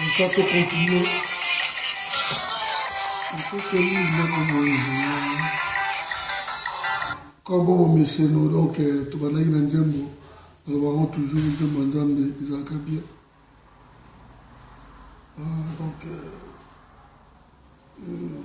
Il faut continuer. Il faut que nous Comme bon meseno donc euh, tobandaki na nzembo alobaka toujours nzembo ya nzambe ezalaka bien ah, donc euh, euh,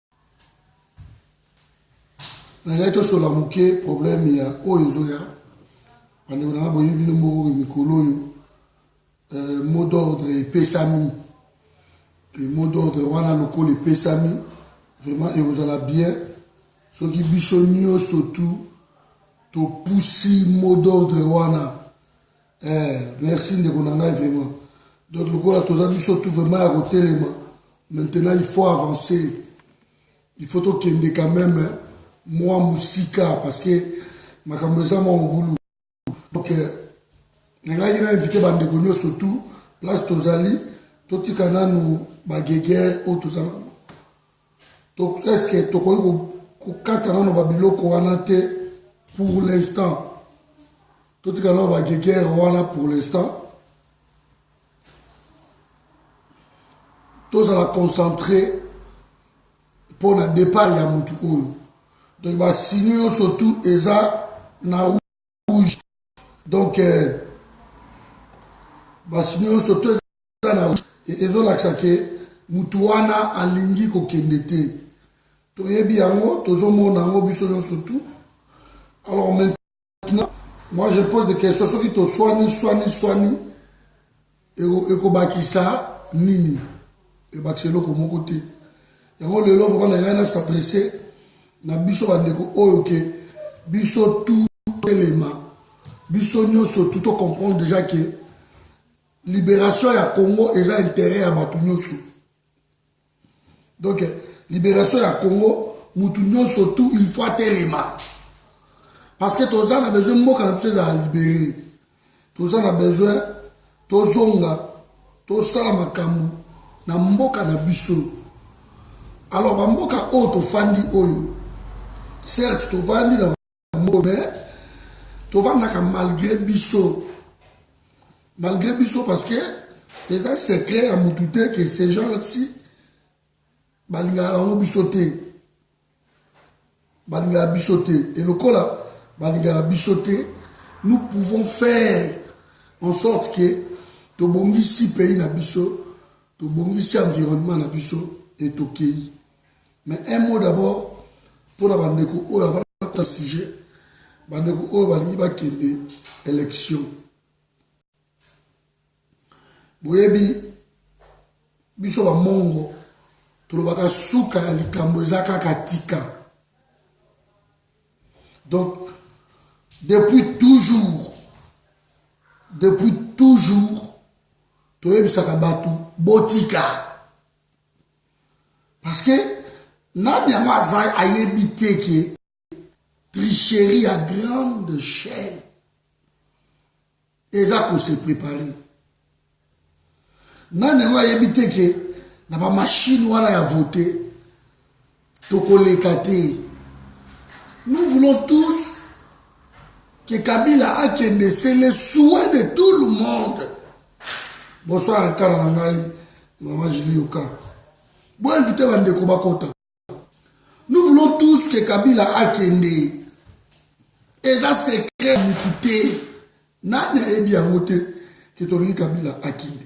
nalingaki tosola moke problème ya oyo ezoya bandeko nanga boyebi bino moko oyo mikolo oyo euh, mot d'ordre epesami mpe mot d'ordre wana lokola epesami vraiment ekozala bien soki biso nyonso tu topusi mot d'ordre wana Eh, merci ndeko na ngai vraiment. Donc lokola toza biso tout vraiment ya kotelema. Maintenant il faut avancer. Il faut tokende quand même hein, mwa mosika parce que makambo eza mwa ngulu. Donc eh, nangaki na invite bandeko nyonso tout place tozali totika nanu bagegere oyo toza nango To est-ce que tokoki ko kokata nano ba biloko wana te pour l'instant? Totika nano ba gueguerre wana pour l'instant. Tozala concentre mpo na départ ya mutu oyo. Donc ba signe nyonso tout eza na rouge donc euh, basi nyonso to eza na rouge ezolakisa ke motu wana alingi kokende te toyebi yango tozomona yango biso nyonso tout alors maintenant moi je pose des questions soki toswani swani swani ekobakisa nini ebakisa eloko moko te yango lelo vraimen na ngai na s'adresse na biso bandeko oyo ke biso tu telema biso nyonso tu tocomprendre déjà ke liberation ya congo eza interet ya bato nyonso Donc liberation ya Congo mutu nyonso tout une fois telema parce que toza na besoin mboka na biso ezala libere toza na besoin tozonga tosala makambo na mboka na biso alors bamboka oyo tofandi oyo certes tovandi na yango mais tovandaka malgré biso malgré biso parce que eza secret ya mutu te ke ces gens là ci balingaka yango biso te balingaka biso te e lokola balingaka biso te nous pouvons faire en sorte que tobongisi pays na biso tobongisi environnement na biso e tokei Mais un mot d'abord mpo na bandeko oyo avanda sujet bandeko oyo balingi bakende élection boyebi biso bamongo tolobaka suka ya likambo eza kaka tika donc depuis toujours depuis toujours toyebisaka bato botika Parce que nani yango aza ayebi te ke tricherie ya grande chaîne eza ko se préparer nani yango ayebi te ke na bamashine wana ya vote Tokoleka te. Nous voulons tous que Kabila akende. C'est le souhait de tout le monde. Bonsoir, Nkara na ngai, maman Julie Yoka. Bon, invité bandeko bakota. Nous voulons tous que Kabila akende. eza secret mutu te nani ayebi yango te ke tolingi kabila akende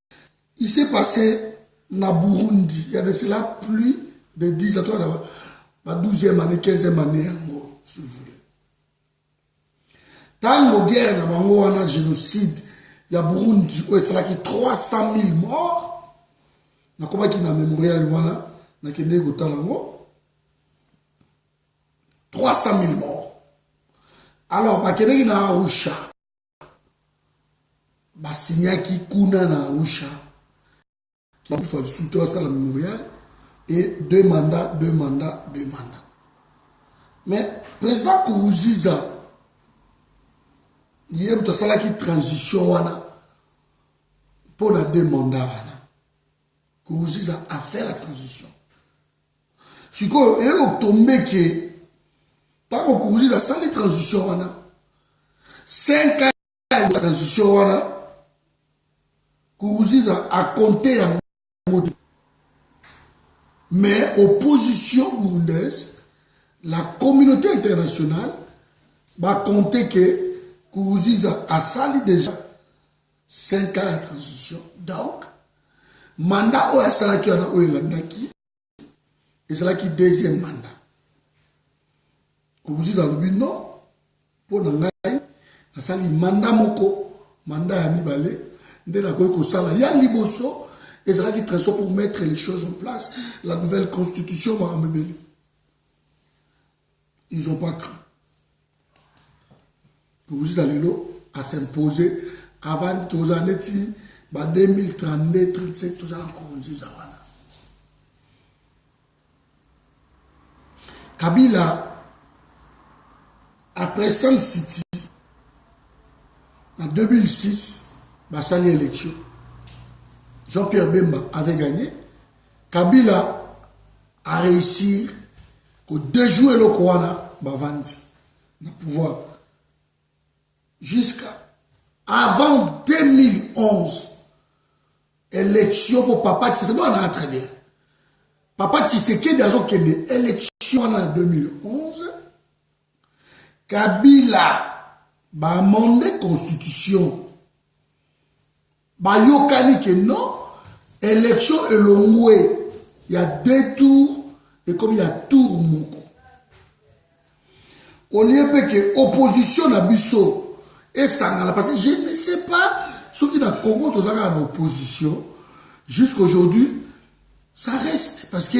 Il s'est passé na Burundi, il y a de cela plus de 10 ans, ba 12e année, 15e année yango, si vous voulez. Tango guerre na bango wana génocide ya Burundi oyo esalaki 300 000 morts, nakomaki na memorial wana nakendeki kotala yango 300 000 morts alors bakendeki na arusha basinyaki kuna na Arusha bakufa lisusu te basala memorial e deux mandat deux mandat deux mandat mais président Kourouziza ye moto asalaki transition wana mpo na deux mandat wana Kourouziza a fait la transition sikoyo eye otombe ke ntango kurziza asali transition wana 5 ans ya transition wana kurziza akonte yango te mais opposition burundaise la communauté internationale bakonte ke kurziza asali déjà 5 ans ya transition donc mandat oyo asalaki wana oyo elandaki ezalaki deuxième mandat kuruziza alobi non mpo na ngai nasali manda moko manda ya mibale nde nakoki kosala ya liboso ezalaki tresor pour mettre les choses en place la nouvelle constitution makambo ebeli Ils ont pas cru. Tokozita lelo à s'imposer avant toza neti ba 2032 37 toza na Nkurunziza wana. Kabila après Sun City en 2006 basali élection Jean-Pierre Bemba avait gagné. Kabila a reussir ko dejouer eloko wana bavandi na pouvoir jusqu'à avant 2011 élection mpo papa tshisekedi bananaka très bien papa tshisekedi azokende élection wana na 2011 kabila baamende constitution Bayokani que non, election elongwe ya deux tours ekomi ya tour moko. Au lieu pe que opposition na biso esangana parce que je ne sais pas soki na Congo tozalaka na opposition jusqu'aujourd'hui ça reste parce que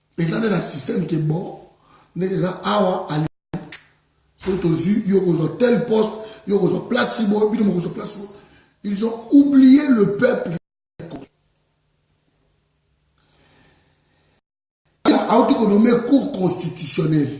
Eza nde na système que bon ndenge eza awa alingi soki tozwi yo okozwa tel poste yo okozwa place boye bino mokozwa place boye ils ont oublié le peuple auti konome cour constitutionnelle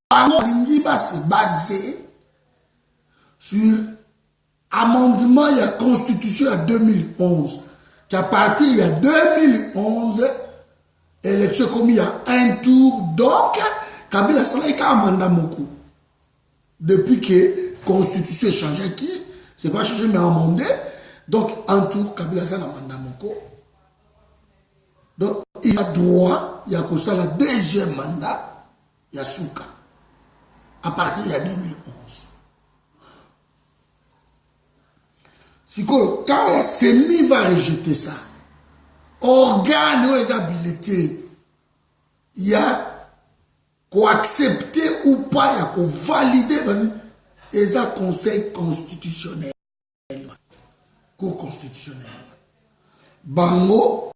bango balingi base base sur amendement ya constitution ya 2011 qu'à partir ya 2011 élection ekomi ya un tour donc kabila asalaki kaka manda moko depuis que constitution echangeaki c'est pas change mais amende donc un tour kabila asala manda moko donc il a droit ya kosala deuxième mandat ya suka à partir ya 2011 sikoyo quand la semi va rejeter ça organe oyo eza bilete ya koaccepte ou pas ya kovalide bani eza conseil constitutionnel cour constitutionnelle bango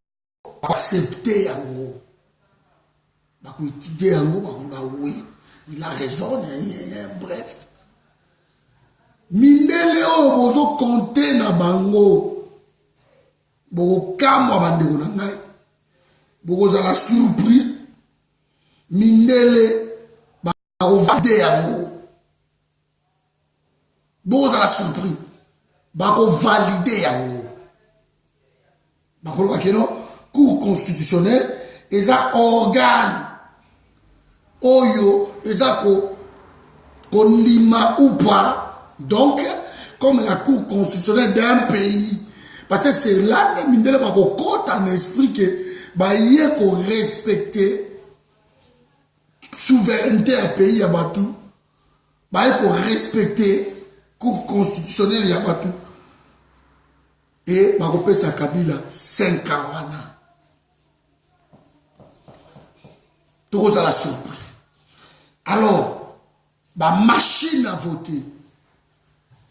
accepte yango bakoetidie yango bakoloba oui il a raison bref mindele oyo bozokonte na bango bokokamwa bandeko na ngai bokozala surpris mindele bakovide yango bokozala surpris bakovalide yango bakoloba keno cour constitutionnelle eza organe oyo eza kondima ou pas donc comme la cour constitutionnelle d'un pays parce que c'est là nde mindele bakokota na esprit ke baye korespecte souveraineté ya pays ya batu baye ko respecter cour constitutionnelle ya batu et bakopesa kabila 5 ans wana tokozala surpris alors bamachine à voter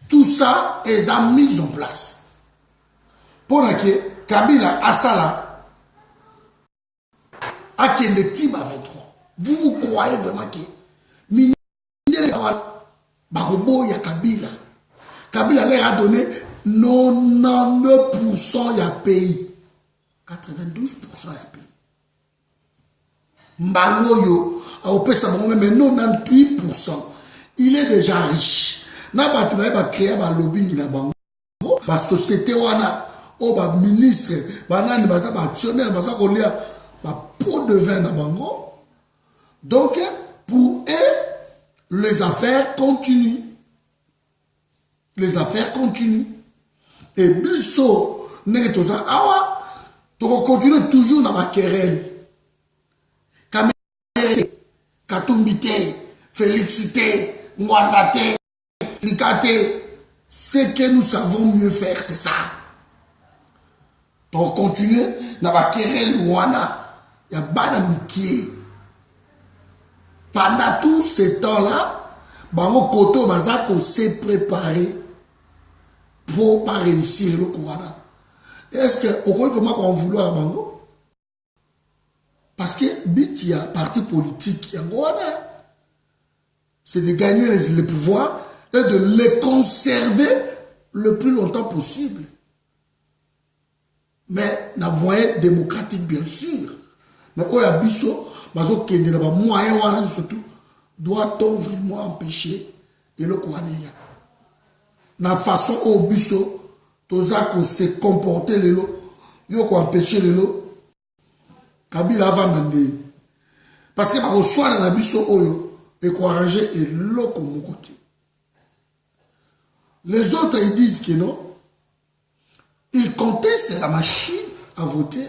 tout ça eza mise en place mpo na ke kabila asala akende ti ba 23 vous vous croyez vraiment que mindele bakoboya kabila kabila leur a donné 99% ya pays 92% ya pays mbala oyo akopesa bango meme 98% il est déjà riche na bato na ye bacrea balobingi na bango oh, ba société wana o oh, ba ministre banani baza ba actionnaire baza kolia ba pot de vin na bango donc pour eux les affaires continuent les affaires continuent et biso ndenge toza awa tokokontinue toujours na bakerele kamerhe katumbi te felix te ngwanda te lika te ce que nous savons mieux faire c'est ça donc continue na bakerele wana ya bana mikie pendant tout ce temps là bango kote oyo baza kose prépare mpo baréussir eloko wana est ce que okoki vraimen koen vouloir bango Parce que but ya parti politique yango wana c'est de gagner les, le pouvoir et de les conserver le plus longtemps possible. Mais na moyen démocratique bien sûr. Mais oyo ya biso bazokende na bamoyen wana surtout doit-on vraiment empêcher eloko wana eya Na façon oyo biso toza ko se comporter lelo, yo ko empecher lelo Kabila avanda nde? Parce que bako swana na biso oyo eko arranger eloko moko te. Les autres ils disent que non, ils contestent la machine à voter.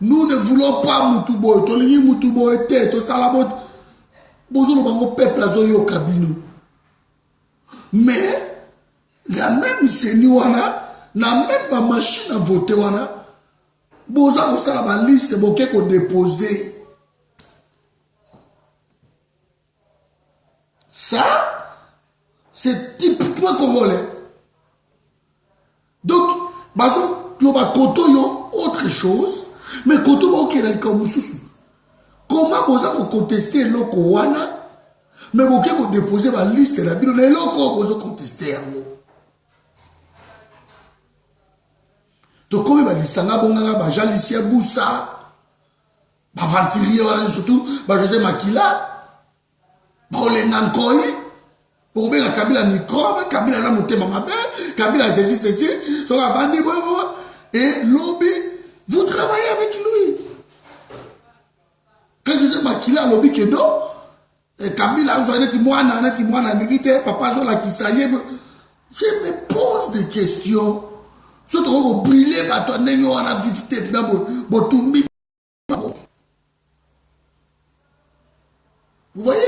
nous ne voulons pas mutu boye tolingi mutu boye te tosala bo bozoloba ngo peuple azoyoka bino mais na meme seni wana na meme bamashine ya vote wana boza kosala baliste boke kodepose Ça, c'est typiquement congolais. Donc, bazo loba koto yo autre chose, mais koto baokela likambo mosusu. Comment boza ko contester eloko wana, mais boke ko déposer ba liste na bino na eloko oyo bozo contester yango. Tokomi ba lisanga bonganga ba jalisia busa. Baventurier wana nyonso tu ba Jose Makila bakolenga nkoi okobenga kabila microbe kabila na motema mabe kabila ceci ceci soki avandi boye et lobi vous travaillez avec lui quand Jose Makila alobi que non eh, kabila azwa neti mwana neti mwana amiki te papa azolakisa ye je me pose des questions soki tokoki kobrille bato ya ndenge wana vive te mpe botumbi bango vous voyez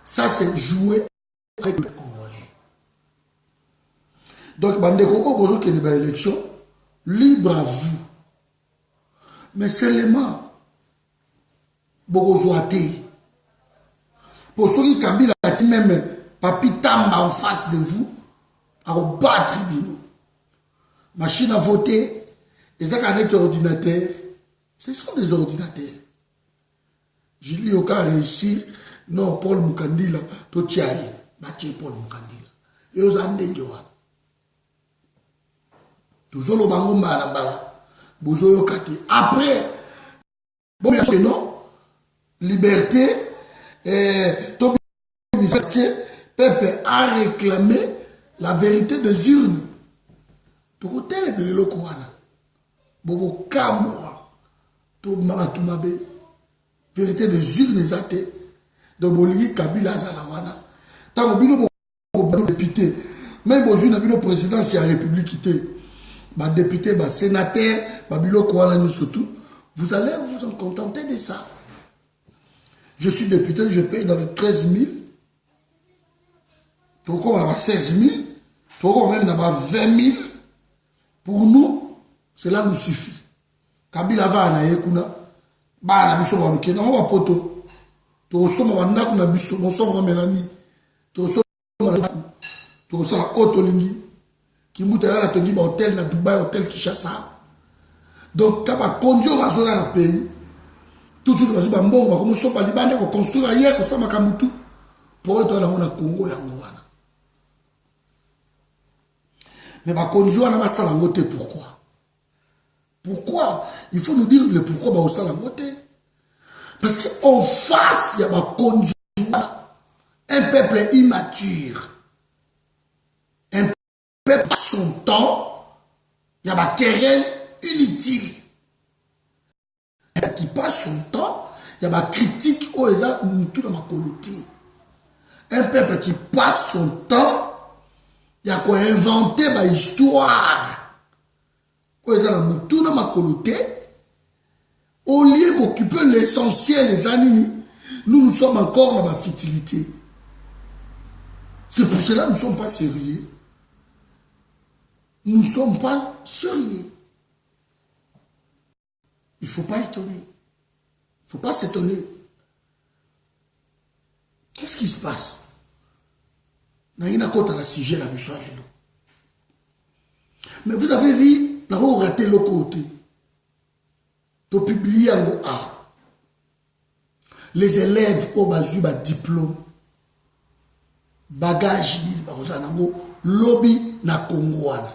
ça c'est jouer avec le congolais donc bandeko oyo bozokende baélection libre à vous mais seulement bokozwa te po soki kabila ati meme papi tamba en face de vous akobattre bino Machine à voter, eza kaka neti ordinateur. Ce sont des ordinateurs. Julie Yoka a réussi. Non, Paul Mukandila, totia ye. Batie Paul Mukandila. Ye oza ndenge wana. Tozoloba ngo mbala mbala. Bozoyoka te. Après boya que non liberté eh, to parce que peuple a réclamé la vérité des urnes tokotelemela eloko wana bokokamwa to bato mabe vérité des urnes eza te donc bolingi kabila azala wana ntango bino bino depute meme bozwi na bino présidence ya république te badepute basénateur babiloko wana nyonso tout vous allez vous en contenter de ça je suis député je paye dans le 13 000 tokokoma na ba 16 000 tokokoma meme na ba 20 000 pour nous cela nous suffit kabila avaya na ye kuna bana na biso baluke nango bapoto tokosomba bandako na biso bosomba bamelani tokosomba tokosala oyo tolingi kimbuta yaka tondi bahotel na dubai hotel kishasa donc ka bakonzi oyo bazoya na pays tututu bazwi bambongo bakomosomba libanda koconstruire aye kosala makambo tu mpo oyo toya nango na kongo yango wana me bakonzi wana basala yango te pourkui Pourquoi il faut nous dire le pourquoi baosala yango te parce que en face ya bakonzi un peuple immature un peuple à son temps ya baquerelle inutile Ya kipa son temps ya ba critique oyo eza mutu na makolo te un peuple qui passe son temps ya ko inventer ba histoire oyo eza na mutu na makolo te au lieu kokipe l'essentiel eza nini nous nous sommes encore na bafitilité c'est pour cela nous ne sommes pas sérieux nous ne sommes pas sérieux Il faut pas étonner. Il faut pas s'étonner. Qu'est-ce qui se passe naye nakota na sujet na biso ya lelo mais vous avez vu nakoki korate eloko oyo te topiblie yango a les élèves oyo bazwi badiplôme bagage nini bakozala nango lobi na kongo wana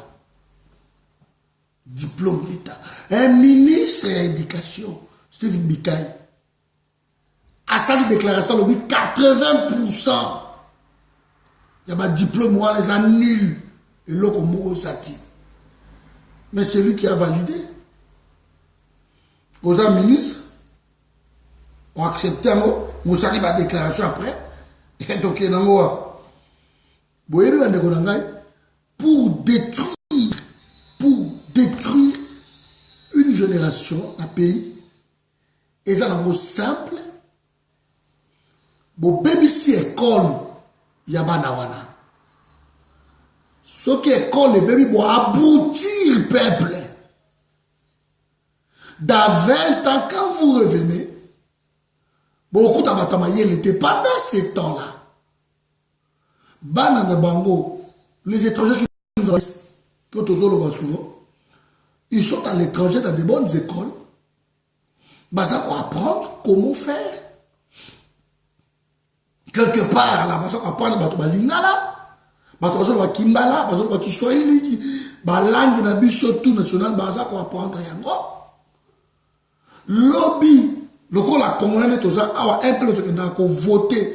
Diplome d'etat. Un ministre ya education, Steve Mbikai, asali declaration alobi 80% ya ba diplome wana eza nul eloko moko ezati. Mais celui qui a validé oza ministre oaccepte yango mosali ba déclaration après tokende yango wapi boyebi bandeko na ngai pour detruire pour detruire une generation na pays eza nango simple bobebisi ekole ya bana wana soki ekole ebebi bo abrutir peuple dans 20 ans quand vous revenez bokuta bato ya mayele te pendant ce temps là bana na bango les étrangers qui nous envahissent mpo tozoloba souvent ils sont à l'étranger dans de bonnes écoles baza koapprendre comment faire quelque part là baza koapprendre bato balingala bato bazoloba kimbala bazoloba kiswahili balangi na biso tout national baza koapprendre yango Lobi lokola congolais nde toza awa un peu tokendaka ko voter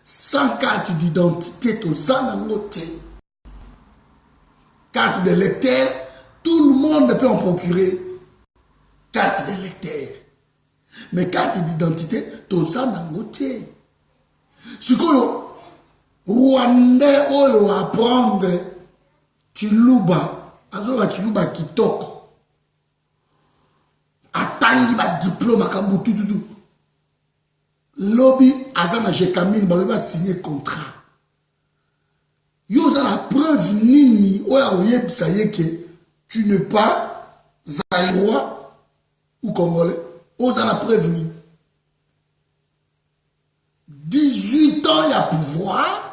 sans carte d'identité toza nango te carte de lecteur tout le monde peut en procurer carte de lecteur mais carte d'identité toza nango te sikoyo rwandais oyo apprendre chiluba azoloba chiluba kitoko atangi ba diplome akambo tututu lobi aza na jekamine balobi basigne contrat yo oza na preuve nini oyo akoyebisa ye ke tu ne pas zaïrois ou congolais oza na preuve nini 18 ans ya pouvoir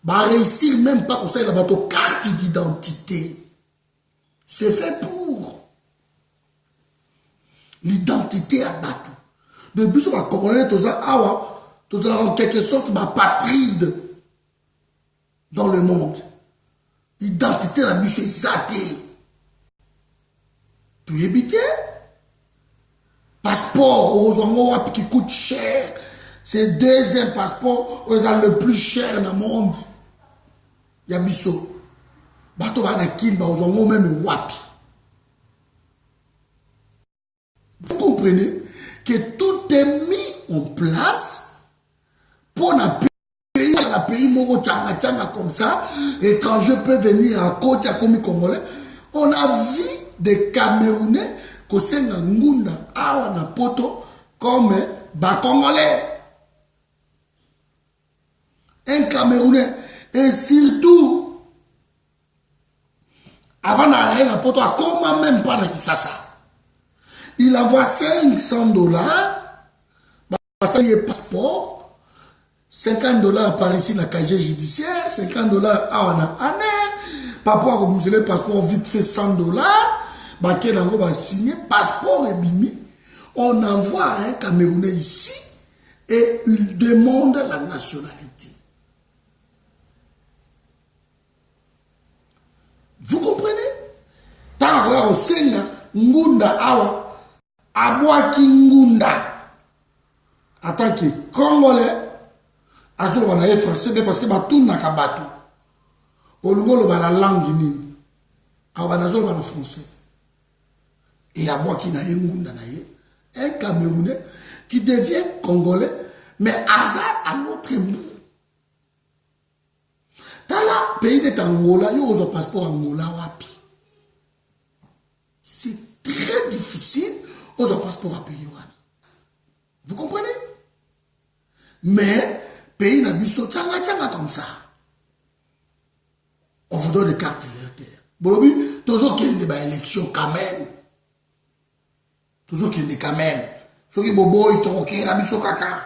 baréussir même pas kosalela bato carte d'identité C'est fait pour l'identité ya bato de biso bakongolene toza awa tozalaka en quelque sorte bapatride dans le monde identité na biso eza te toyebi te Passeport okozwa yango wapi qui coûte cher c'est deuxième passeport oyo eza le plus cher na monde ya biso bato baa na kin bakozwa yango meme wapi vous comprenez que tout est mis en place mpo na pays dans la pays moko tchanga tchanga comme ça étranger peut venir à côté akomi congolais on a vu des camerounais kosenga ngunda awa na poto comme bacongolais un camerounais et surtout avant na alaye na poto akoma même pas na kisasa il envoie 500 dollars basali ye passeport 50 dollars par ici na casier judiciaire 50 dollars awa na aner papa akobimisa ye passeport vite fait 100 dollars bake nango basigne passeport ebimi on envoie un camerounais ici et il demande la nationalité Vous comprenez? Ntango akoya kosenga ngunda awa, abwaki ngunda en tant que Congolais, azoloba na ye français mpe parce que batunaka bato olingi oloba na langue nini awa bana azoloba na français e abwaki na ye ngunda na ye un camerounais qui devient congolais mais aza à notre mbu tala pays neti angola yo okozwa passeport angola wapi c'est très difficile ozwa passeport ya pays wana vous comprenez mais pays na biso canga canga comme ça on vous donne carte électeur bolobi tozokende baélection quand même tozokende quand même soki boboyi tokokela biso kaka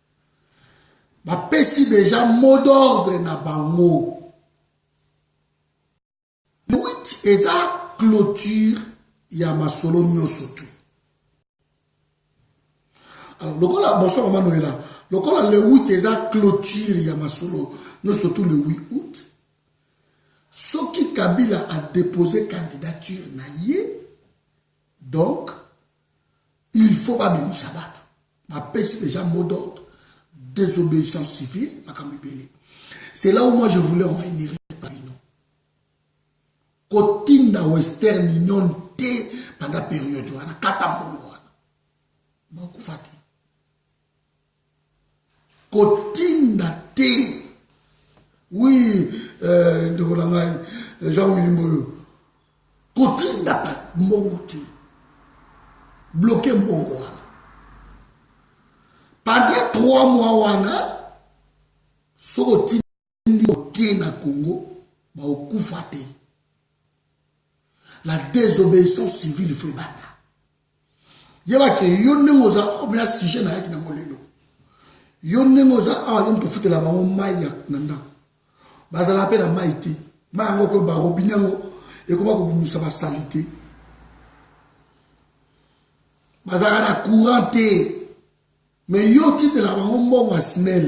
bapesi deja mot d'ordre na bango le 8 eza clôture ya masolo nyonso tu alors lokola bonsoir mama noela lokola le 8 eza clôture ya masolo nyonso tu le 8 août soki kabila a déposé candidature na ye donc il faut babimisa bato Ba pesi dejà mot d'ordre desobeyissance civile makambo ebele. C'est là où moi je voulais en venir par bino. Kotinda Western Union te pendant période wana kata mbongo wana. Bakufa te. Kotinda te. Oui, euh, ndeko na ngai Jean Willy Mboyo Kotinda ba mbongo te. Bloquer mbongo wana. Pendant trois mois wana, soki otindi oke na Congo, baokufa te. La désobéissance civile faut ebanda. yeba ke yo ndenge oza omela sujet nayaki nango lelo yo ndenge oza awa yo moto ofutela bango mai na ndako bazalaka mpe na mai te mai yango okoyo barobine yango ekoba kobimisa basali te bazalaka na courant te me yo otindela bango mbongo ya snel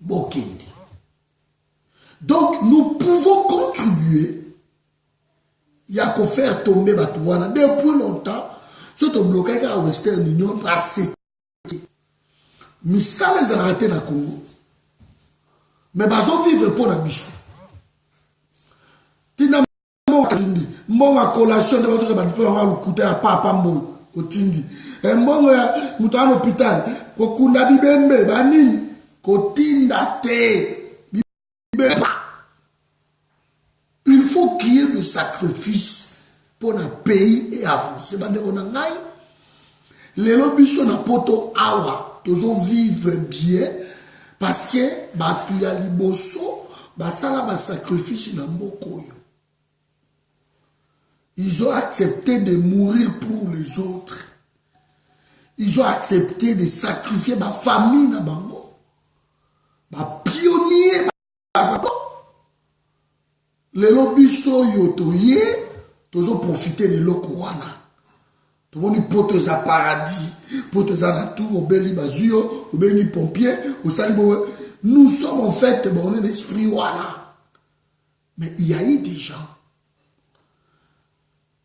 Bokende. Donc nous pouvons contribuer ya ko faire tomber bato wana depuis longtemps so toblokaki kaka western union parce misala ezalaka te na congo mais bazovivre mpo na biso mbongo atindi mbongo ya collation nde batoza badiplome yango ya lokuta ya papa mboyo otindi eh, mbongo ya moto ana hôpital kokunda bibembe banini kotinda te bibembe il faut qu'il y ait de sacrifice mpo na pays e avance bandeko na ngai Lelo biso na poto awa tozo vivre bien parce que batu ya liboso basala ba sacrifice na mboka oyo. Ils ont accepté de mourir pour les autres. Ils ont accepté de sacrifier ma famille na bango. Ba pionniers aza to lelo biso oyo toye tozoprofite na eloko wana tomoni poto eza paradis poto eza na tour obeli bazwi yo obeni pompier osali bo nous sommes en fait borne na esprit wana mais il y a eu des gens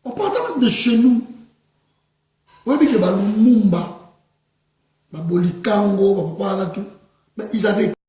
on partant même de chez nous oyebi ke balumumba babolikango bapapalatu mais ils avaient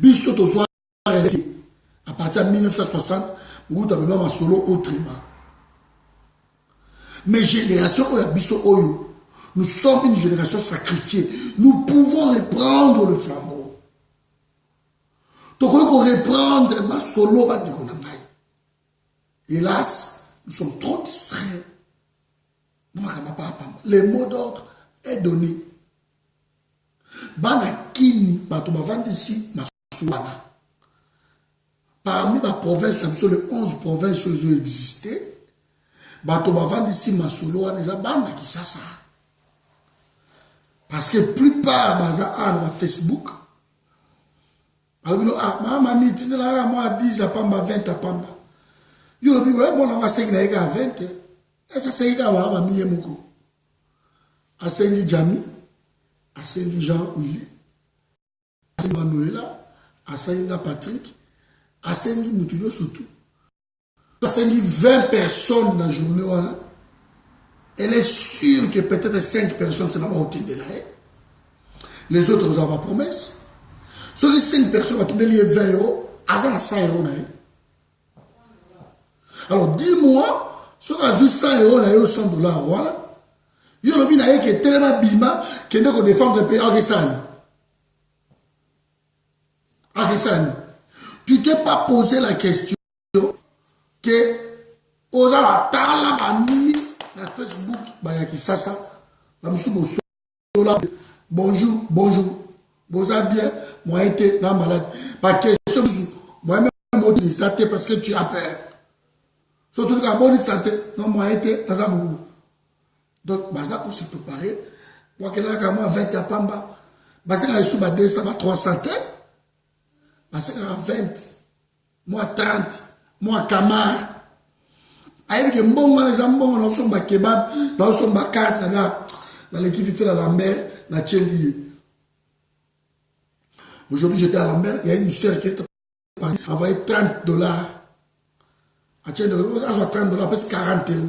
biso tozwa à partir ya 1960 mobutu amema masolo autrement mais génération oyo ya biso oyo nous sommes une génération sacrifiée nous pouvons reprendre le flambeau tokoki koreprendre masolo bandeko na ngai hélas nous sommes trop distraits na makambo apamba le mot d'ordre est donné Bana kin bato bavandisi masuana parmi ba province na biso le 11 province oyo ezo existe bato bavandisi masolo wana eza bana kisasa parce que plupart baza awa na bafacebook alobi no ah, mama mitindelaka mwa 10 apamba 20 apamba yo olobi we mwana ngo aseki na ye kaka 20 esa seki kaka baba bamiye moko asengi jami asengi jean wille asengi manuela asengi nga patrick asengi motu nyonso tu asengi 20 personnes na journée wana elle est sûre que peut-être 5 personnes sena baotindela ye les autres kozala bapromesse soki 5 personnes batindeli ye 20 euro aza na 100 euro na ye alors dis moi soki azwi 100 euro na yo 100 dollar wana yo olobi na ye ke telema bima kende kodefendre mpe akesani akesani tu t'es pas posé la question ke oza batala bamimi na facebook baya kisasa bamosusu boso tola bonjour bonjour boza bien moyen te na malade ba question bisu moyen même modi eza te parce que tu as peur so tolika aboni sante no moyen te naza bobo donc baza ko se préparer wakelaka mwa 20 ya pamba basekaka lisusu ba 200 ba 300 te basekaka 20 mwa 30 mwa kamar ayebi ke mbongo wana eza mbongo na osomba kebab na osomba karte na nga naleki vite na lambert natyeli ye aujourd'hui j'étais à lambert il y a une sœur qui est envoyé 30 dollars atyeli azwa 30 dollars apesi 40 euro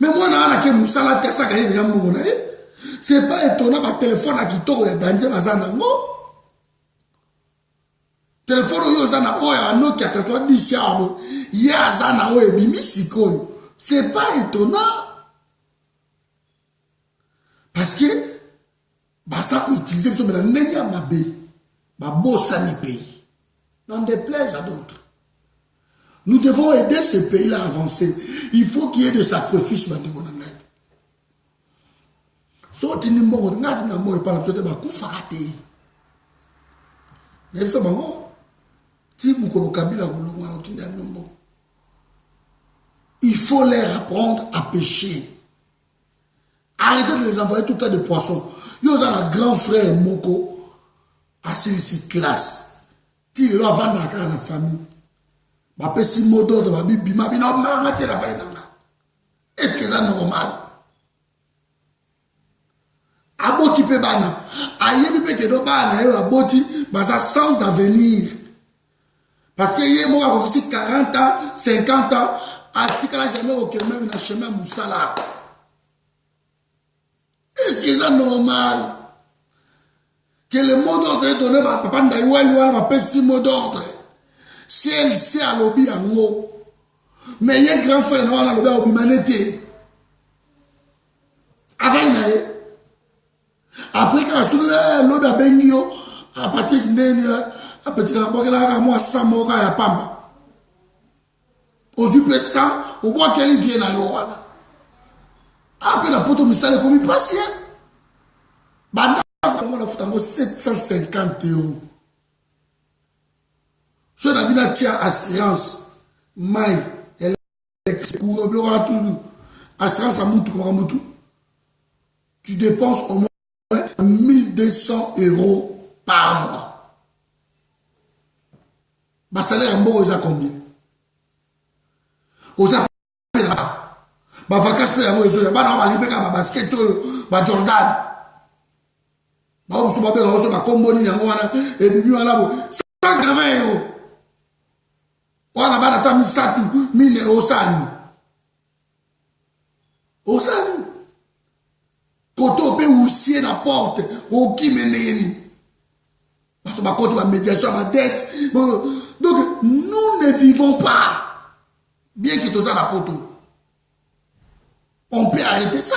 Mais mwana wana ke musala te asaka ye deja mbongo na ye. C'est pas étonnant ba téléphone ya kitoko ya danze baza nango. Téléphone oyo oza na oyo ya Nokia 3310 ya abo. Ye aza na oyo ebimi sikoyo. C'est pas étonnant. Parce que Baza ko utiliser biso mais na ndenge ya mabe. Babosani pays. N'en déplaise à d'autres. Nous devons aider ce pays-là à avancer. Il faut qu'il y ait des sacrifices, bandeko na ngai. So otindi mbongo ngati na moyo epai na biso te bakufaka te. Nayebisa bango ti mokolo kabila kolongwa na otindi ya nombo. Il faut leur apprendre à pécher. Arrêtez de les envoyer tout le temps de poisson. Yo oza na grand frère moko asilisi classe. Ti lelo avandaka kaka na famille. Bapesi mot d'ordre babibima bino mama te na pai nanga. Est-ce que eza normal? aboti mpe bana ayebi mpe keno bana ye baboti baza sans avenir Parce que ye moko akokisi 40 ans, 50 ans, atikala jamais kokende meme na chemin ya mosala. Est-ce que eza normal que le mot d'ordre est donné par papa Ndaiwali wana bapesi mot d'ordre CLC alobi yango mais ye grand frère na wana alobi akobima ne te avai na ye apres kaka soki eh, lobi abengi yo apatrik ah, ndeni eh, apetika abwakela kaka mwa sa moko kaka ya pamba ozwi mpe sa obwakeli vie na yo wana ape ah, na poto misala ekomi mpasi ye eh. bandako yango nafuta yango 750 euro soki na bino atya assurance mai kura biloko ya tulu assurance ya mutu komaka mutu tu dépenses au moins 1200 euros par mois basalaire ya mboko eza combien oza bavakance mpe yango ezoya bana wa balibeka babasket oyo bajordan bao mosusu babeka oso bakomboni yango wana ebimi wana bo 180 euro Wana bana ta misatu mine osani. Osani. Koto pe usie na porte okimemeni. Bato bakoti ba médiation ba dette. Donc nous ne vivons pas bien que toza na poto. On peut arrêter ça?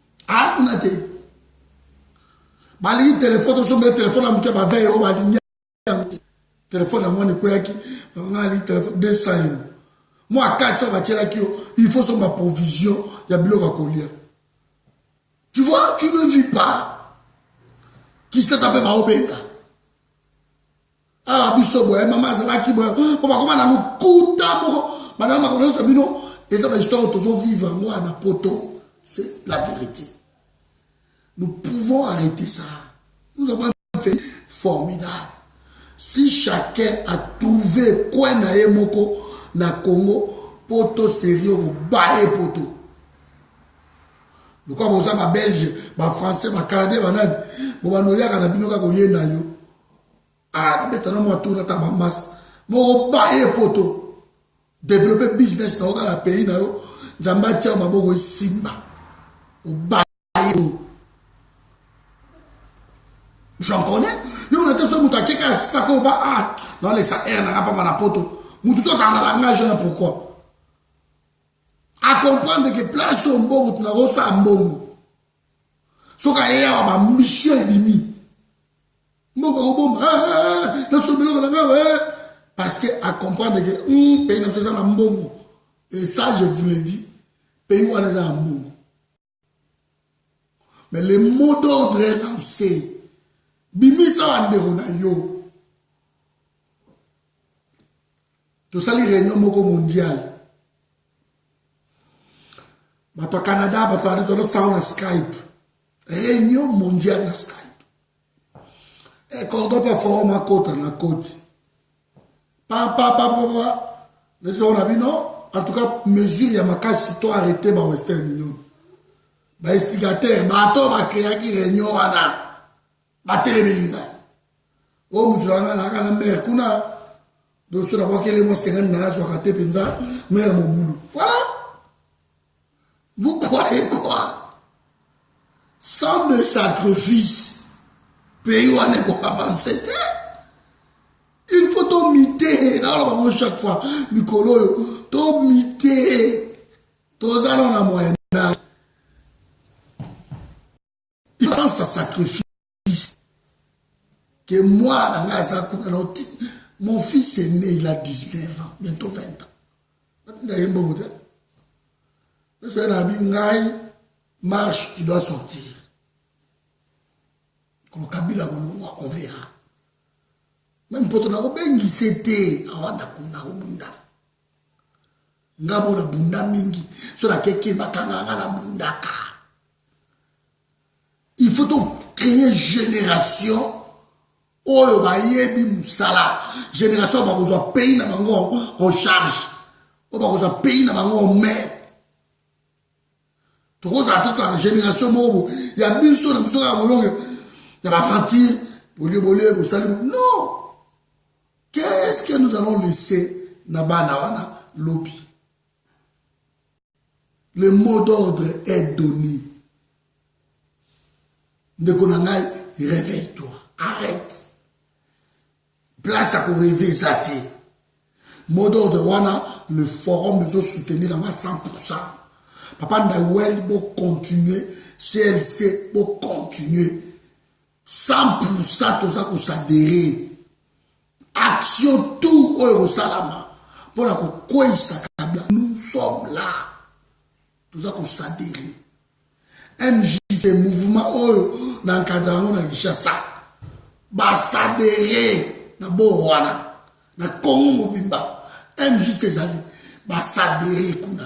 Ah, kuna te balingi telefone osomba ye telefone ya moke baveye oyo balingi yango te telefone yango wana ekweyaki balingi telefone 200 yo mwa 400 batielaki yo il faut osomba provision ya biloko ya kolia tu vois tu ne vis pas kisasa mpe baobenga ah biso boye eh, mama azalaki boye hmm, po bakoma na lokuta moko madame bakoyebisa bino eza bahistoire oyo tozovivre yango na poto c'est la vérité nous pouvons arrêter ça nous avons un pays formidable si chacun a trouvé coin na ye moko na congo mpo toseri okobaye poto lokola boza babelge bafrançais bacanadien banani bobanoyaka na bino kaka koyenda yo Ah, beta na mwa tour ata ba mas moko baye poto développer business na oka na pays na yo nzambe atia maboko esimba obaye j'en connais yo mona te so moto akeka atisa ko ba ah na olekisa air nanga mpamba na poto moto to kaka na langage wana pourquoi acomprendre ke place oyo mbongo tunakosala mbongo soki aye awa ba mission ebimi mboka kobomba ah, ah, ah, nasomba eloko na ngai eh. parce que acomprendre ke hmm, pays na biso eza na mbongo et ça je vous le dis pays wana eza na mbongo mais le mot d'ordre est lancé bimisa bandeko na yo tosali réunion moko mondiale bato ya canada bato ya tono sango na skype réunion mondiale na skype ecordopa eh, forum akota na koti papapapapa nazoa na bino en tout cas mesure ya makasi to arrete ba western union bainstigateur bato bakreaki réunion wana batelemeli ngai oyo moto na ngai naaka na mere kuna doso na bwakele mwa sengani na azwaka te mpenza mere mobulu voilà vous croyez quoi sans de sacrifice pays wana ekoavanse te il faut tomite naoloba bango chaque fois mikolo oyo tomite toza nao na moyen il prend sa sacrifice que moi na nga aza kuna na oti mon fils est né il a 19 ans bientôt 20 ans natinda ye mbongo te nasoya na abi ngai marche tu dois sortir kolo kabila kolongwa on verra meme poto nakobengise te awanda kuna kobunda Nga mo na bunda mingi. So na keke bakanga nga na bundaka. Il faut to créer génération oyo bayebi musala. Génération bakozwa pays na bango en charge. Oyo bakozwa pays na bango en main. tokozala kaka génération moko ya biso na biso kaka bolonge ya baventure bolie bolie bosali non qu'est ce que nous allons laisser na bana wana lobi le mot d'ordre est donné ndeko na ngai réveille toi arrête Place ya ko reve eza te. Mot d'ordre wana le forum ezo soutenir yango à 100%. Papa Ndawel bo continuer CLC bo continuer 100% toza ko s'adhérer. Action tout oyo kosalama mpo na kokweyisa kabila nous sommes là toza ko s'adhérer MJC mouvement oyo na encadra yango na Kinshasa ba s'adere na bord wana na Congo mobimba MJC ezali ba s'adere kuna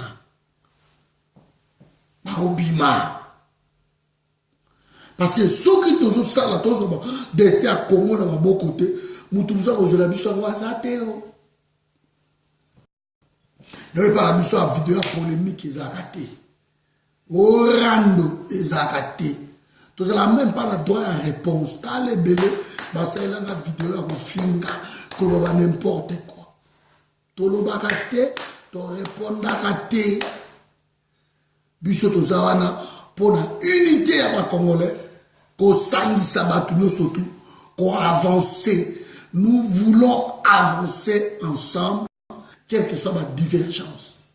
bakobima parce que soki tozosala tozwa destin ya Congo na maboko te moto mosusu akozwela biso yango aza te o oh. epa na biso ya video ya polémique ezalaka te orando ezalaka te tozala meme pas na droit ya réponse tala ebele basalelanga video ya kofinga koloba n'importe quoi tolobaka te torepondaka te biso toza wana mpo na unité ya bacongolais kosangisa bato nyonso tu koavancer nous voulons avancer ensemble quel que soit badivergence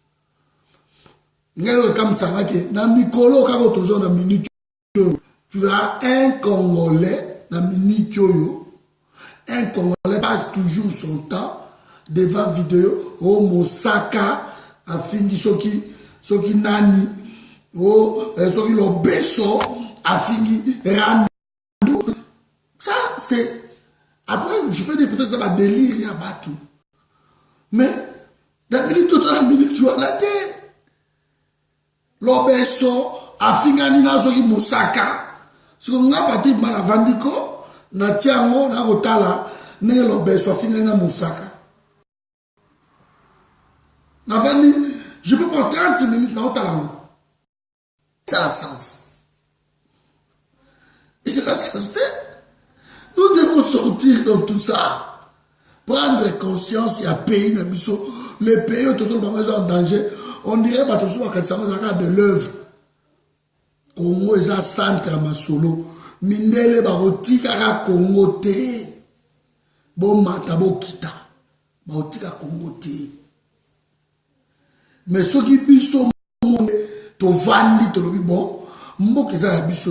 ngai oyo ekamwisaka ke na mikolo kaka oyo tozwa na minute oyo tu verras un congolais na minute oyo un congolais passe toujours son temps devant video o oh, mosaka afingi soki soki nani o oh, eh, soki lobeso afingi rando ça c'est après je peux dire peut-être ça va délire à batu mais la minute tout la minute tu as la terre lobeso afingani nazoki mosaka siko nga bati mbala avandi ko natia yango nakotala ndenge lobeso afingani na mosaka navandi je peux prendre 30 minutes naotala yango esala sens esala sens te nous devons sortir dans tout ça prendre conscience ya pays na biso le pays oyo tozolo bango eza en danger on dirait bato mosusu bakanisa yango ezalaka de l'œuvre congo eza centre ya masolo mindele bakotikaka congo te bomata bokita bakotika congo te mais soki biso monde tovandi tolobi bon mboka eza ya biso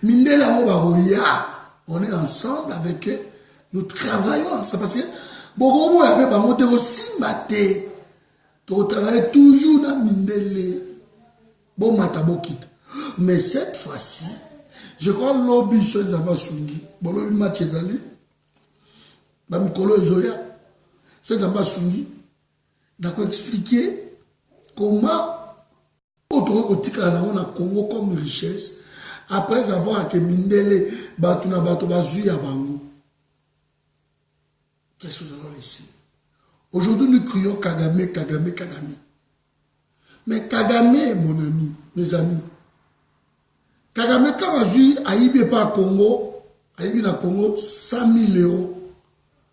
mindele yango bakoya on est ensemble avec eux nous travaillons ensemble parce que bokoboya mpe bango te bosimba te tokotravaille toujours na mindele bomata bokita mais cette fois-ci je crois lobi so nzambe asungi bolobi match ezali bamikolo ezoya so nzambe asungi Na ko expliquer comment oyo tokoki kotikala nango na Congo comme richesse après avoir que mindele bato na bato bazwi ya bango. Qu'est-ce que nous allons laisser? Aujourd'hui nous crions Kagame, Kagame, Kagame. Mais Kagame, mon ami, mes amis, Kagame kaka azwi ayibi epa Congo, ayibi na Congo 100 000 euros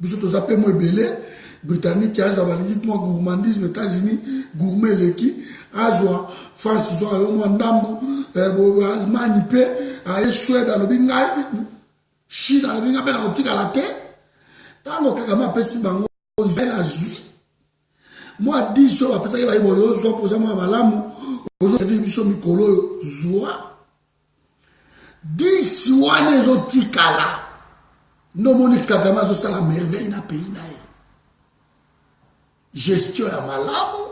Biso toza pe mwa ebele britannique azwa balingi mwa gourmandisme Etats-Unis gourmet eleki azwa France zwa yo mwa ndambu eh, Allemagne pe aye Suède alobi ngai Chine alobi ngai pe nakotikala te ntango Kagame apesi bango Israel azwi Mwa 10 oyo bapesaki bayi boye ozwa mpo oza mwana malamu ozosakisi biso mikolo oyo zwa 10 wana ezotikala nomoni kagame azosala merveille na pays na ye gestion ya malamu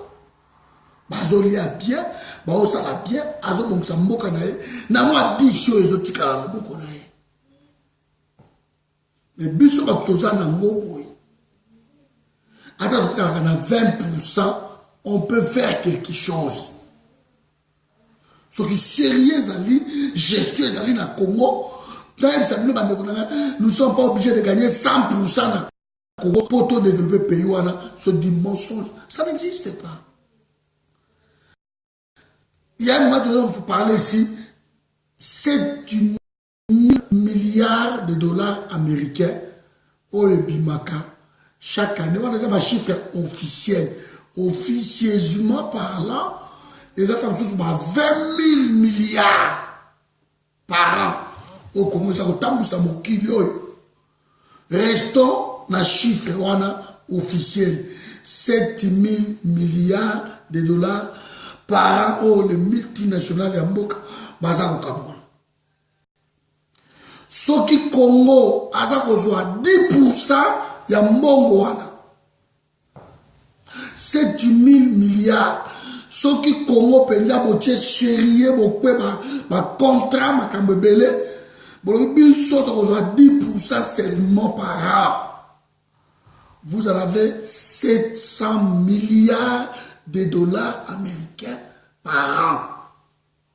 bazolia bien baosala bien azobongisa mboka na ye na mwa 10 oyo ezotikala na maboko na ye Mais biso bato toza na ngo boye. Ata totikalaka na 20%, on peut faire quelque chose. soki sérieux ezali gestion ezali na congo nayebisa bino bandeko na ngai nous sommes pas obligé de gagner 100 pourcent na congo mpo to développer pays wana ce du mensonge ça n'existe pas il y a un moment donné on peut parler ici c'est une milliards de dollars américains oyo ebimaka chaque année wana eza bachiffre officiel officieusement parlant eza ta mosusu ba 20 mille milliards par an oyo kongo eza kotambwisa mokili oyo restons na chiffre wana officiel 7 mille milliards de dollars par an oyo le multinational ya mboka baza kokamwa Soki Congo aza kozua 10% ya mbongo wana 7000 milliards soki Congo penza botie serieux bokwe ba, ba contrat makambo ebele bolobi biso tokozua 10% seulement par an vous en avez 700 milliards de dollars américains par an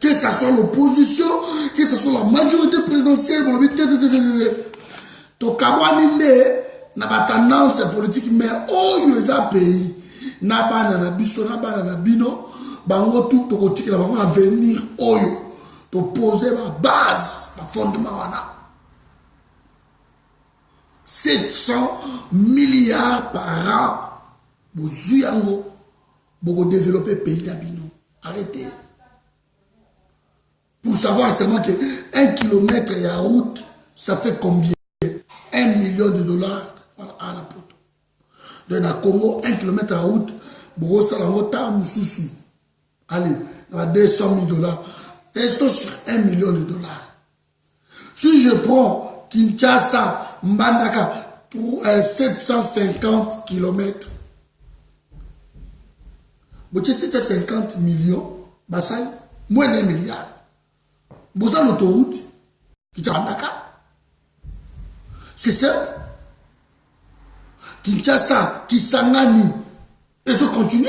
que ça soit l'opposition, que ça soit la majorité présidentielle, vous l'avez Donc, na ba tendance politique mais oyo oh, eza pays na bana na biso na bana na bino bango tout tokotikela bango avenir oyo topose babase bafondement wana 700 milliards par an bozwi yango bokodeveloppe pays na bino Arrêtez. Pour savoir seulement que un kilomètre ya route, ça fait combien Un million de dollars wana a na poto. Donc na Congo, un kilomètre ya route, bokosala yango ta mosusu. Allez, na 200 000 dollars. Restons sur un million de dollars. Si je prends Kinshasa, Mbandaka, 750 kilomètres. Botie 750 millions, basali, moins d'un milliard. Boza l'autoroute, Kinshasa, Mbandaka. C'est ça. Kinshasa, Kisangani, et ça continue.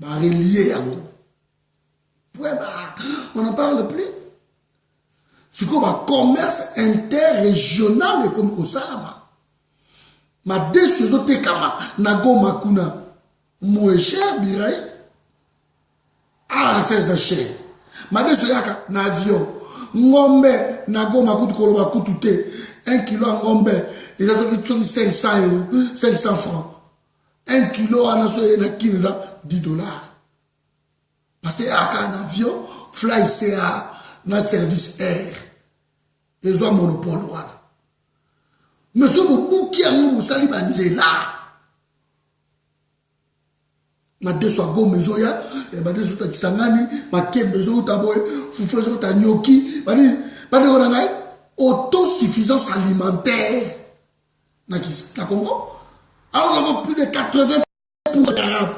ba relier yango point barre on n'en parle plus sikoyo bacommerce interrégional ekomi kosalama madesu ezotekama na goma kuna moe cher birai awa na kisasa eza cher madesu eyaka na avion ngombe na goma kutu koloba kutu te un kilo ya ngombe eza soki soki 500 euro 500 franc un kilo wana so eye na kin eza 10 dollars pase aka na avion fly ca na service air ezwa monopole wana me so bobuki yango bosali banzela madeso ya goma ezoya eh, madeso euta kisangani makembe ezouta boye fufu ezouta nyoki bandeko na ngai autosuffisance alimentaire na kisi na Congo awa nango plus de 80 pour arabe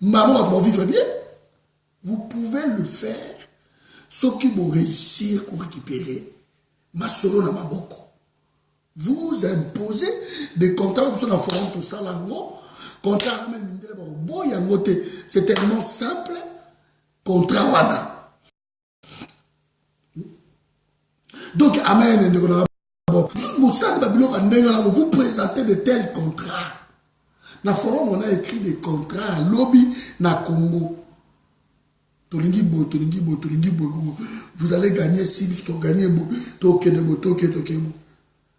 maman bato ba vivre bien vous pouvez le faire soki bo réussir ko récupérer masolo na maboko vous imposez des contrats biso na forum tosala yango contrat wana mindele bakoboya yango te c'est tellement simple contrat wana donc amen ndeko na bosali babiloko ya ndenge wana vous présentez de tel contrat na forum on a écrit des contrats ya lobi na congo tolingi boye tolingi boye tolingi boye vous allez gagner si biso toganye boye tokende boye tokende tokende boye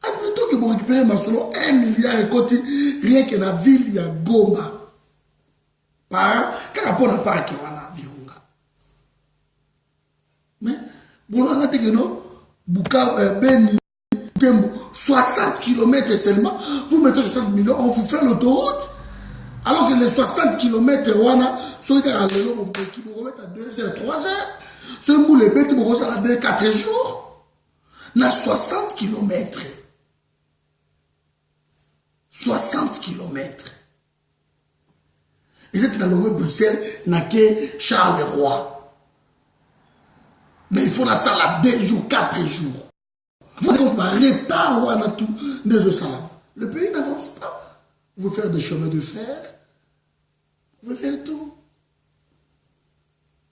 Plutôt que bo récupérer masolo 1 milliard ekoti rien que na ville ya Goma. Par kaka mpo na parc wana Virunga. Mais bolanga te que non Bukavu euh, Beni Tembo 60 km seulement vous mettez 60 millions on vous fait l'autoroute alors que les 60 km wana soki kaka lelo bobeki bokobeta 2 heures 3 heures soki mbula ebeti bokosala 2 4 jours na 60 kilomètre 60 kilomètre eza ti na longwe bruxelles nake charles de roi mais il faut nasala 2 jours 4 jours donc baretard wana tout nde ezosalama le pays n'avance pas vous faire des chemins de fer vous faire tout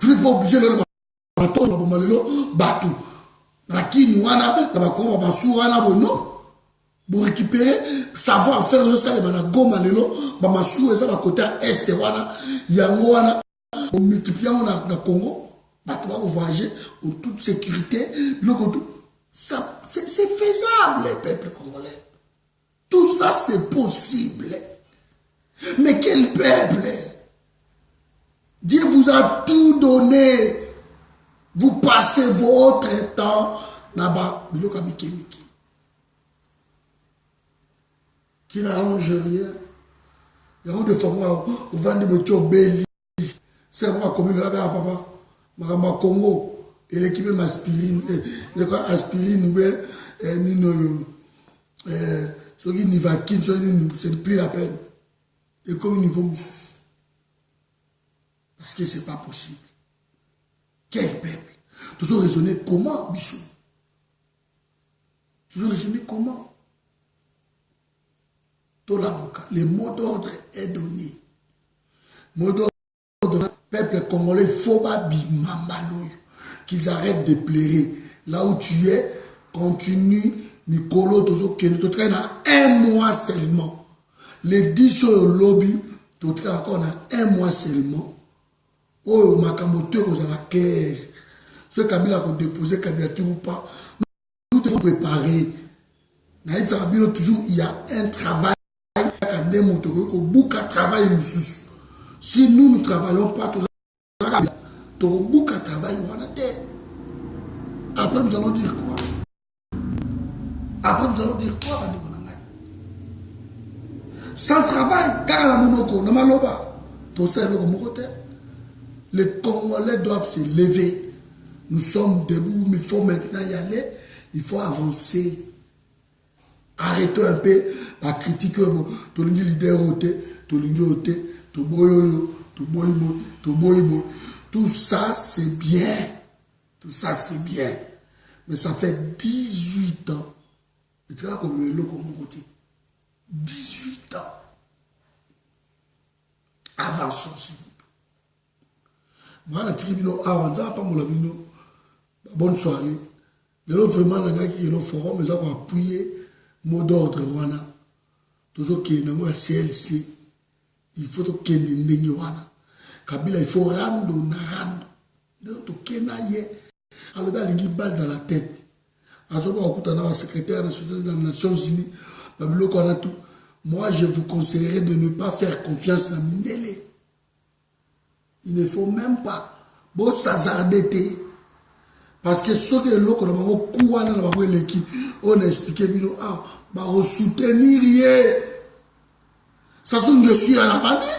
filipo oblige lelo bato oyo baboma lelo bato na kini wana na bakoma basu wana bono borekipere savoir faire ezosalema na goma lelo bamasuwa eza bakota este wana yango wana bo multiplier yango na, na Congo bato bako voyager en toute sécurité biloko tout ça c'est faisable peuple congolais tout ça c'est possible mais quel peuple Dieu vous a tout donné vous passez votre temps là-bas biloko ya mikemike Qui n'arrange rien. Yango de fawa ovandi botie obeli. Sera mwa commune là kaka papa. Makambo ya Congo eleki meme aspirine. Ndeko eh, aspirine ou bien eh, nini oyo. Eh, soki nivaquine soki nini c'est plus la peine. Ekomi niveau mosusu. Parce que c'est pas possible. Quel peuple Toujours raisonner comment, Bissou Toujours raisonner comment Tolamuka le mot d'ordre est donne mot d'ordre peuple congolais faut babima mbala oyo qu'ils arrêtent de pleurer là où tu es continue mikolo tozokende totikali na un mois seulement le 10 oyo lobi totikala encore na un mois seulement oyo makambo to ekozala claire soki kabila kodepose candidature ou pas nous devons préparer nayebisaka bino toujours il y a un travail kaka nde moto okoki kobuka travail mosusu si nous nous travaillons pas tozalaka tokobuka travail wana te après nous allons dire quoi après nous allons dire quoi bandeko na ngai sans travail kaka na monoko na maloba tosala eloko moko te les congolais doivent se lever Nous sommes debout, mais il faut maintenant y aller, il faut avancer. Arrêtons un peu la critique, tolingi leader oyo te, tolingi oyo te, toboyi oyo, toboyi boye, toboyi boye. Tout ça c'est bien, tout ça c'est bien. Mais ça fait 18 ans, etikala komema eloko moko te. 18 ans. Avançons, s'il vous plaît. nga natiki bino awa nzambe apambola bino ba bonne soirée lelo vraiment nangaki keno forum eza koappuye mot d'ordre wana tozokende yango ya clc il faut tokende ndenge wana kabila il faut rando na rando nde tokenda ye alobi alingi balle dans la tête azoba kokuta na basecrétaire national na nations unis babiloko wana tout moi je vous conseillerai de ne pas faire confiance na mindele il ne faut même pas bosazarde te parce que soki eloko na bango ku wana na bango eleki oyo na explike bino a ah, bakosoutenir ye sasu ngesu ya na bani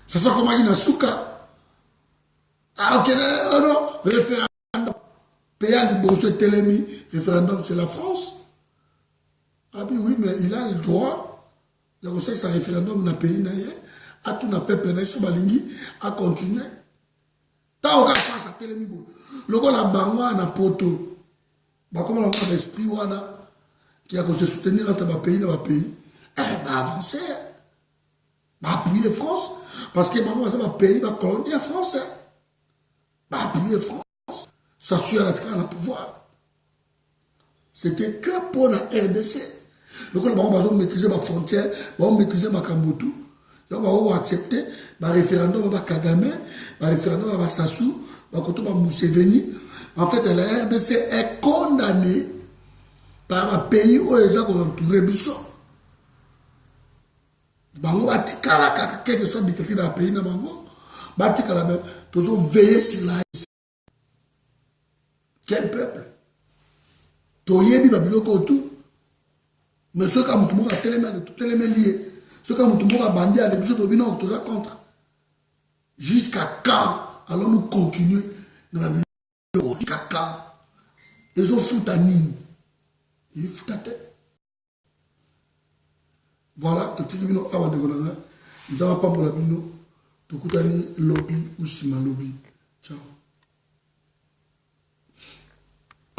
sasu akomaki na suka akokende ah, ono oh référendum mpe ya liboso etelemi référendum c'est la france abi ah oui mais il a le droit ya kosalisa référendum na pays na ye atuna peuple na ye so balingi acontinue ntango kaka france atelemi boye lokola bango wana na poto bakoma na bango na esprit wana ya kose soutenir entre bapays na bapays eh, baavanceur Ba appuyer France parce que bango baza ba pays ba colonie ya France. Ba appuyer France. Sassou ya natika na pouvoir. C'était que pour la RDC. lokola bango bazo maîtriser ba frontière bazo maîtriser makambo tout yango bango baaccepte baréférendum ya bakagame baréférendum ya basasu bakoto ba museveni en fait la rdc est condamné par bapays oyo eza koentoure biso bango batikala kaka quelque soit dictature ya pays na bango batikala me tozo veille sur la quel peuple toyebi babiloko oyo tout mais soki moto moko atelemeli totelemeli ye soki moto moko abandi ale biso tolobi noko toza contre jusqu'à quand allons nous continuer na babiloko eloko kaka ezofuta nini efuta te voilà natiki bino awa ndeko na ngai nzambe apambola bino tokutani lobi usima lobi ciao